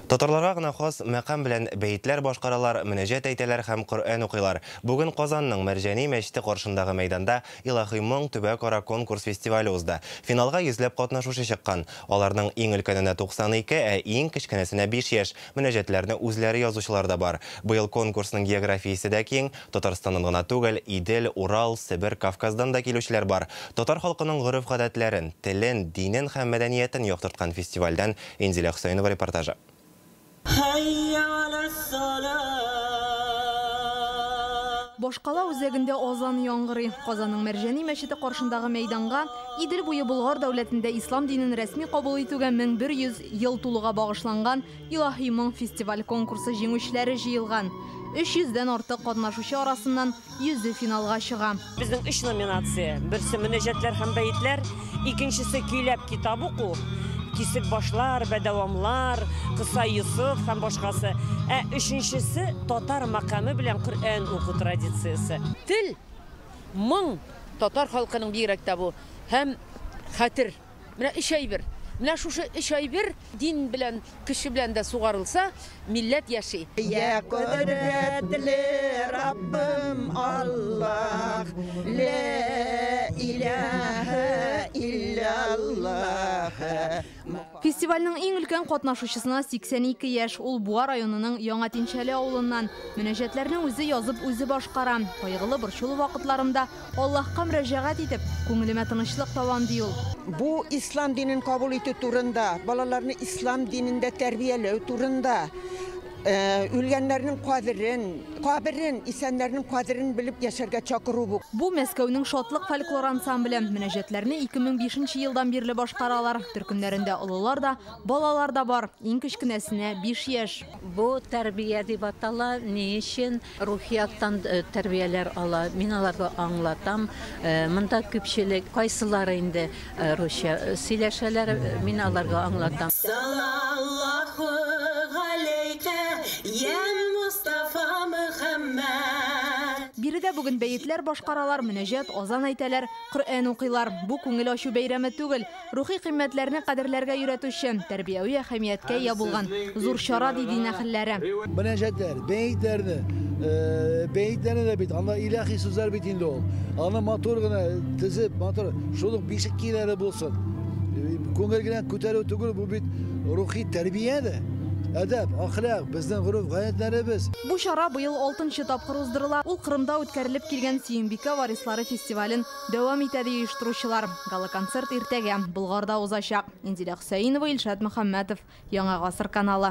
Татарларга гына хас мәкам белән бәетләр башкаралар, мөнәҗәт әйтәләр һәм Коръән укыйлар. Бүген Казанның Мәрҗани мәчете каршындагы мәйданда Илаһи моң төбәк-ара конкурс-фестивале узды. Финалга йөзләп катнашучы чыккан. Аларның иң өлкәненә 92, ә иң кечкенәсенә 5 яшь. Мөнәҗәтләрне үзләре язучылар да бар. Быел конкурсның географиясе дә киң. Татарстаннан гына түгел, Идел, Урал, Себер, Кавказдан да килүчеләр бар. Татар халкының гореф-гадәтләрен, телен, динен һәм мәдәниятен яктырткан фестивальдән Инзилә Хөсәенова репортажы. Башкала үзәгендә азан яңгырый. Казанның Мәрҗани мәчете каршындагы мәйданга Идел буе Болгар дәүләтендә ислам динен рәсми кабул итүгә 1100 ел тулуга багышланган Илаһи моң фестиваль-конкурсы җиңүчеләре җыелган. 300 дән артык катнашучы арасыннан Йөзе финалга чыга. Безнең өч номинация. Берсе мөнәҗәтләр һәм бәетләр, икенчесе көйләп китап уку, кисек башлар, бәдәвамлар, кыса Йосыф һәм башкасы. Ә өченчесе татар макамы белән Коръән уку традициясе. Тел, моң, татар халкының бигрәк тә бу, һәм хәтер. Менә өч әйбер. Менә шушы өч әйбер дин белән, кеше белән дә сугарылса, милләт яши. Йә кодрәтле Раббым Аллаһ, лә иләһә илләллаһ. Фестивальнең иң өлкән катнашучысына 82 яшь, ул Буа районының Яңа Тинчәле авылыннан. Мөнәҗәтләрне үзе язып, үзе башкара. Кайгылы-борчулы вакытларында Аллаһка мөрәҗәгать итеп, күңелемә тынычлык табам, ди ул. Бу ислам динен кабул итү турында, балаларны ислам динендә тәрбияләү турында, үлгәннәрнең кадерен, каберен, исәннәрнең кадерен белеп яшәргә чакыру бу. Бу, Мәскәүнең Шатлык фольклор ансамбле. Мөнәҗәтләрне 2005 нче елдан бирле башкаралар. Төркемнәрендә олылар да, балалар да бар. Иң кечкенәсенә, биш яшь. Бу тәрбия дип атала. Ни өчен? Рухи яктан тәрбияләр ала. Мин аларга аңлатам. Монда күпчелек, кайсылары инде русча сөйләшәләр, мин аларга аңлатам. Салаллаху галәйкә, йә Мостафа Мөхәммәд! Биредә бүген бәетләр башкаралар, мөнәҗәт, азан әйтәләр, Коръән укыйлар. Бу күңел ачу бәйрәме түгел. Рухи кыйммәтләрне кадерләргә өйрәтүче, тәрбияви әһәмияткә ия булган зур чара, ди дин әһелләре. Мөнәҗәтләр, бәетләрне, бәетләрне дә бит, анда илаһи сүзләр бит инде ул. Аны матур гына тезеп, матур, шул ук бишек киеләре булсын. Күңел генә күтәрү түгел, бу бит рухи тәрбия дә. Әдәп, әхлак, безнең гореф-гадәтләребез. Бу чара быел алтынчы тапкыр уздырыла. Ул Кырымда үткәрелеп килгән Сөембикә варислары фестивален Дәвам итә, ди оештыручылар. Гала-концерт иртәгә, Болгарда узачак. Инзилә Хөсәенова, Илшат Мөхәммәтов, Яңа гасыр каналы.